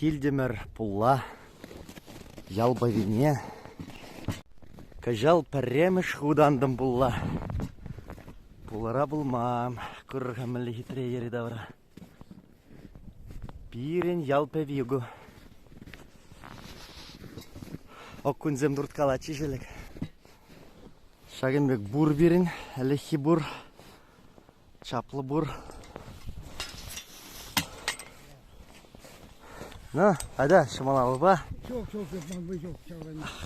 Килтӗмӗр пулла ял пӑвине. Кӑҫал пӗрремӗш хут антӑм пулла. Пулӑра пулман курӑр-ха мӗнле хитре йӗри-тавра. Пирӗн ял пӗви ку. Окунсем турткалатчӗҫ ӗлӗк. Ҫакӑн пек пур пирӗн, ӗлӗкхи пур. Чаплӑ пур. Ну, айда ҫӑмалапа.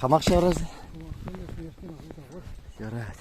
Хамак ҫаврас. Ярать.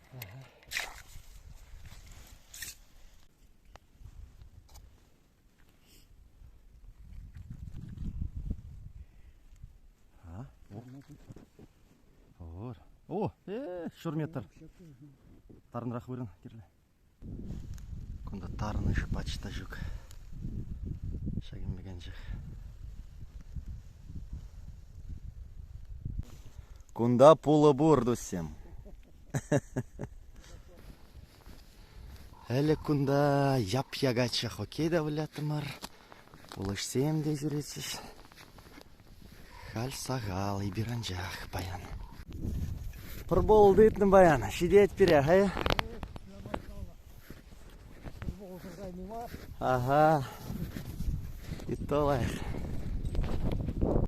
О, ҫур метр. Тарӑнрах вырӑн кирлӗ. Кунта тарӑнӑш пач та ҫук. Ҫак ӳкенчӗк. Кунта пулӑ пур, туссем. Ӗлӗк кунта яп-якачча хоккей та выляттӑмӑр. Пулӑҫсем те ҫӳретчӗҫ. Халь сахал-и пир анчах паян. Пӑрпул тытнӑ паян. Ҫитет пире, хай. Ага. Итто лайӑх.